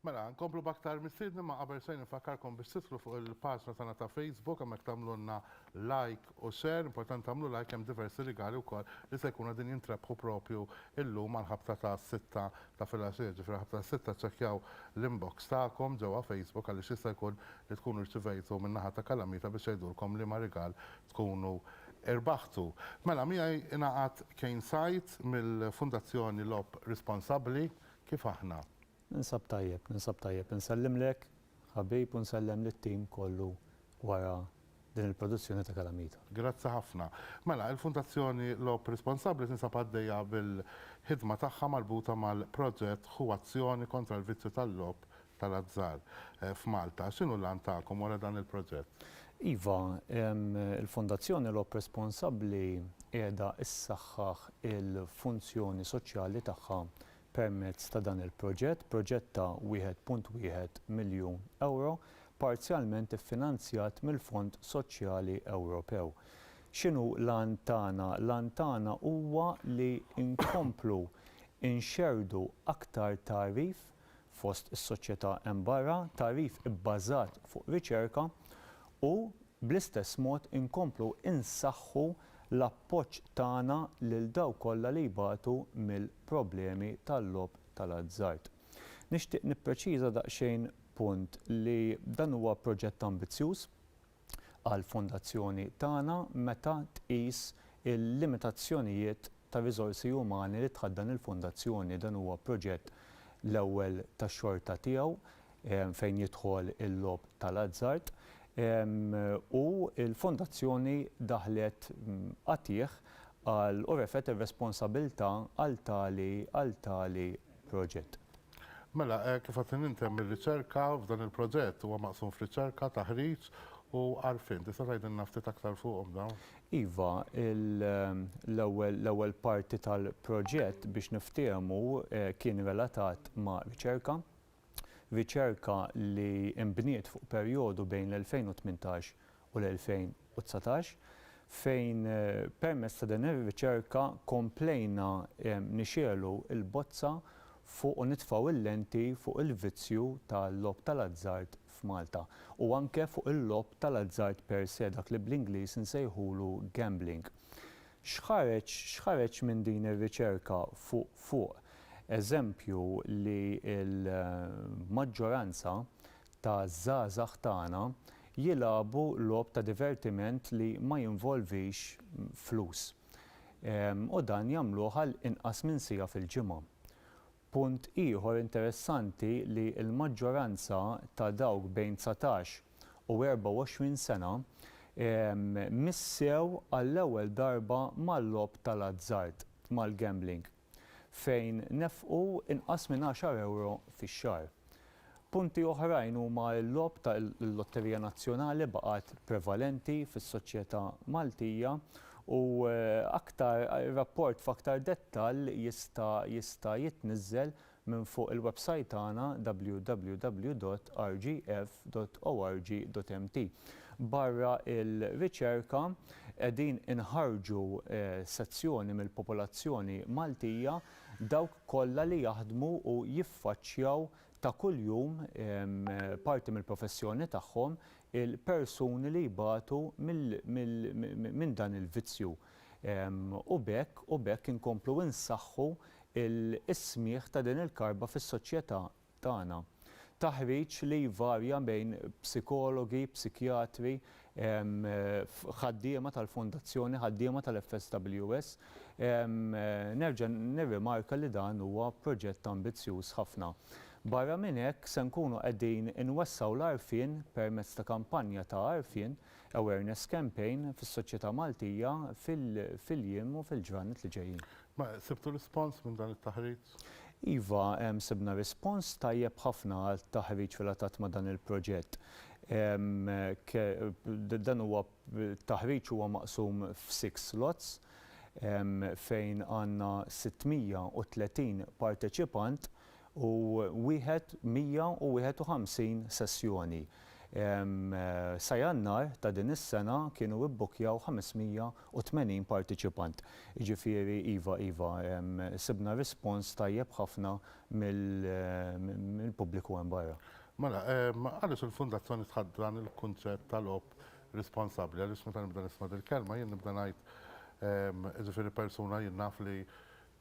Mela, nkomplu baktar mistiedni ma qabel sejn nfakkarkom biex titlu fuq il-paġna tagħna ta' Facebook hemmhekk tagħmlulna like u share, importanti tagħmlu like hemm diversi rigali wkoll li se jkunu din jintrebħu propju illum għall-ħabta ta' sitta ta' filgħaxija, ġifieri ħabta ta' sitta ċċekkjaw l-inbox tagħkom ġewwa Facebook għaliex jista' jkun li tkunu rċivejtu min-naħa ta' Kalamita biex jgħidulkom liema rigal tkunu irbaħtu. Mela miegħi ingħaqad Kane Said mill-Fundazzjoni Logħob Responsabbli, kif aħna? Ninsab tajjeb, ninsab tajjeb. Insellimlek ħabib u nsellem lit-tim kollu wara din il-produzzjoni ta' Calamita. Grazzi ħafna. Mela, il-Fundazzjoni Logħob Responsabbli tinsab għaddejja bil-ħidma tagħha marbuta mal-proġett Hu Azzjoni kontra l-Vizzju tal-Logħob tal-azzar f'Malta. X'inhu l-għan tagħkom wara dan il-proġett? Iva, il-Fondazzjoni Logħob Responsabbli qiegħda ssaħħaħ il-funzjoni soċjali tagħha permezz ta' dan il-proġett, proġett ta' wieħed punt wieħed miljun ewro, parzjalment iffinanzjat mill-Fond Soċjali Ewropew. X'inhu l-għan tagħna? L-għan tagħna huwa li nkomplu nxerrdu aktar tagħrif fost is-soċjetà hemm barra, tagħrif ibbażat fuq riċerka u, bl-istess mod, inkomplu nsaħħu l-appoġġ tagħna lil dawk kollha li jbatu mill-problemi tal-logħob tal-azzard. Nixtieq nippreċiża daqsxejn punt li dan huwa proġett ambizzjuż. għall-Fondazzjoni tagħna meta tqis il-limitazzjonijiet tar-riżorsi umani li tħaddan il-Fondazzjoni. Dan huwa proġett l-ewwel tax-xorta tiegħu fejn jidħol il-logħob tal-azzard u l-Fondazzjoni daħlet qatigħ għal u refgħet ir-responsabilità għal tali għal tali proġett. Mela, kif għad intemm ir-riċerka f'dan il-proġett? Huwa maqsum f'riċerka, taħriġ u għarfien. Tista' tgħidilna ftit aktar fuqhom dawn? Iva, l-ewwel parti tal-proġett biex niftiehmu kien relatat ma' riċerka. Riċerka li nbniet fuq perjodu bejn l-2018 u l-2019, fejn permezz ta' din ir-riċerka komplejna nixegħlu l-bozza fuq u nitfgħu il-lenti fuq il-vizzju tal-logħob tal-azzard f'Malta u anke fuq il-logħob tal-azzard per se, dak li bl-Ingliż insejħulu gambling. X'ħareġ x'ħareġ minn din ir-riċerka fuq fuq eżempju li l-maġġoranza ta' żgħażagħ tagħna jilagħbu logħob ta' divertiment li ma jinvolvix flus u dan jagħmluh għal inqas minn siegħa fil-ġimgħa. Punt ieħor interessanti li l-maġġoranza ta' dawk bejn dsatax u erbgħa u għoxrin sena missew għall-ewwel darba mal-logħob tal-azzard, mal-gambling. fejn nefqu inqas minn għaxar ewro fix-xahar. Punti oħrajn huma l-logħob ta' l-Lotterija Nazzjonali baqgħet prevalenti fis-soċjetà Maltija u aktar rapport f'aktar dettall jista' jista' jitniżżel minn fuq il-websajt tagħna www.rgf.org.mt. Barra l-riċerka, qegħdin inħarrġu sezzjoni mill-popolazzjoni Maltija, dawk kollha li jaħdmu u jiffaċċjaw ta' kuljum, parti mill-professjoni tagħhom, il-persuni li jbatu minn dan il-vizzju. u b'hekk u b'hekk inkomplu nsaħħu l-ismigħ ta' din il-karba fis-soċjetà tagħna. Taħriġ li jvarja bejn psikologi, psikjatri, ħaddiema tal-Fondazzjoni, ħaddiema tal-FSWS. Nerġa' nirrimarka li dan huwa proġett ambizzjuż ħafna. Barra minn hekk se nkunu qegħdin inwessgħu l-għarfien permezz ta' kampanja ta' għarfien awareness campaign fis-soċjetà Maltija fil-jiem u fil-ġranet li ġejjin. Ma sibtu rispons minn dan it-taħriġ? Iva, sibna rispons tajjeb ħafna għat-taħriġ relatat ma' dan il-proġett. Dan huwa t-taħriġ huwa maqsum f'six slots fejn għandna 630 parteċipant u wieħed 151 sessjoni. Sa Jannar ta' din is-sena kienu ibbukkjaw 580 partiċipant. Jiġifieri iva, iva, sibna rispons tajjeb ħafna mill-pubbliku hemm barra. Mela, għaliex il-Fundazzjoni tħadd dan il-kunċett ta' logħob responsabbli? Għaliex meta nibda nisma' dil-kelma jien nibda ngħid, jiġifieri persuna jien naf li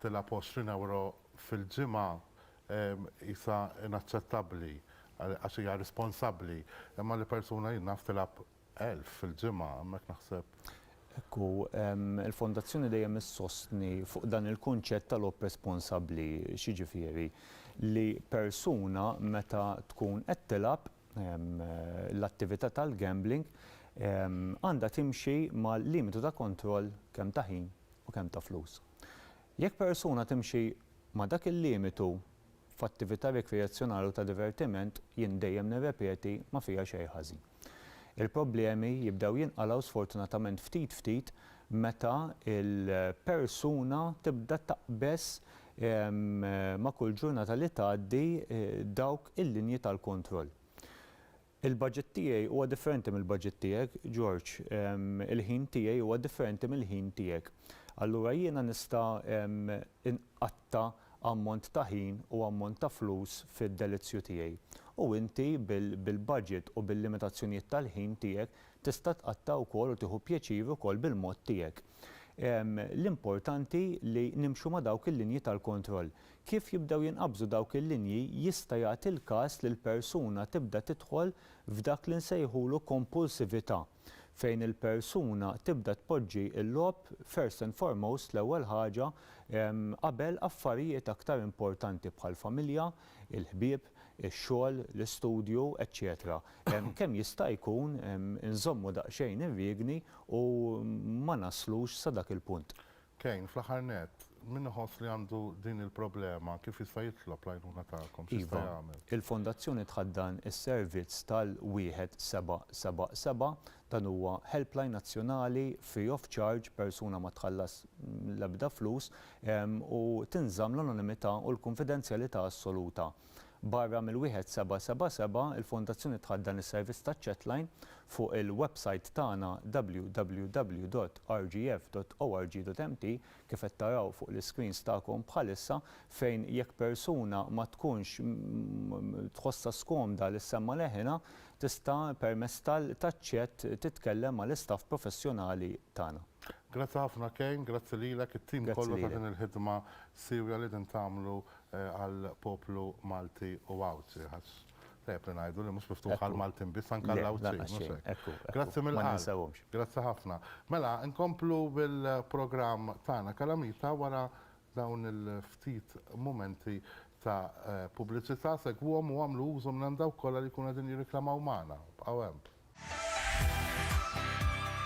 tilgħab b'għoxrin ewro fil-ġimgħa qisha inaċċettabbli għax hija responsabbli, imma li persuna jien naf tilgħab elf fil-ġimgħa, hemmhekk naħseb. Hekk hu. Il-Fondazzjoni dejjem issostni fuq dan il-kunċett tal-opresponsabbli. X'jiġifieri? Li persuna meta tkun qed tilgħab l-attività tal-gambling għandha timxi mal-limitu ta' kontroll kemm ta' ħin u kemm ta' flus. Jekk persuna timxi ma' dak il-limitu f'attività rikreazzjonali u ta' divertiment, jien dejjem nirrepeti, ma fiha xejn ħażin. Il-problemi jibdew jinqalgħu sfortunatament ftit ftit meta l-persuna tibda taqbeż ma' kull ġurnata li tgħaddi dawk il-linji tal-kontroll. Il-baġit tiegħi huwa differenti mill-baġit tiegħek, George. Il-ħin tiegħi huwa differenti mill-ħin tiegħek. Allura jiena nista' nqatta' ammont ta' ħin u ammont ta' flus fid-delizzju tiegħi. U inti bil-baġit u bil-limitazzjonijiet tal-ħin tiegħek tista' tqatta' wkoll u tieħu pjaċir ukoll bil-mod tiegħek. L-importanti li nimxu ma' dawk il-linji tal-kontroll. Kif jibdew jinqabżu dawk il-linji jista' jagħti l-każ li l-persuna tibda tidħol f'dak li nsejħulu kompulsività, fejn il-persuna tibda tpoġġi l-logħob first and foremost, l-ewwel ħaġa, qabel affarijiet aktar importanti bħall-familja, il-ħbieb, ix-xogħol, l-istudju, eċċetera Kemm jista' jkun inżommu daqsxejn ir-riegni u ma naslux sa dak il-punt. Kane, fl-aħħar nett, min iħoss li għandu din il-problema kif jista' jitlob l-għajnuna tagħkom? X'jista' jagħmel? Iva, il-Fondazzjoni tħaddan is-servizz tal-1777. Dan huwa helpline nazzjonali free of charge, persuna ma tħallas l-ebda flus u tinżamm l-anonimità u l-kunfidenzjalità assoluta. Barra mill-1777, il-Fondazzjoni tħaddan is-servizz taċ-chatline fuq il-websajt tagħna www.rgf.org.mt, kif qed taraw fuq l-iscreens tagħkom bħalissa, fejn jekk persuna ma tkunx tħossha skomda li ssemma' leħinha, tista' permezz tal-chat titkellem mal-istaff professjonali tagħna. Grazzi ħafna Kane, grazzi lilek, it-tim kollu ta' din il-ħidma siewja li qegħdin tagħmlu għal poplu Malti u Għawdxi għax tajjeb li ngħidu li mhux miftuħ għal Maltin biss anke għal Għawdxin mhux hekk? Grazzi mill-qalb. Grazzi ħafna. Mela nkomplu bil-programm tagħna Kalamita wara dawn il-ftit mumenti ta' pubbliċità segwuhom u għamlu użu minn hemm dawk kollha li jkunu qegħdin jirriklamaw magħna. Bqgħu hemm.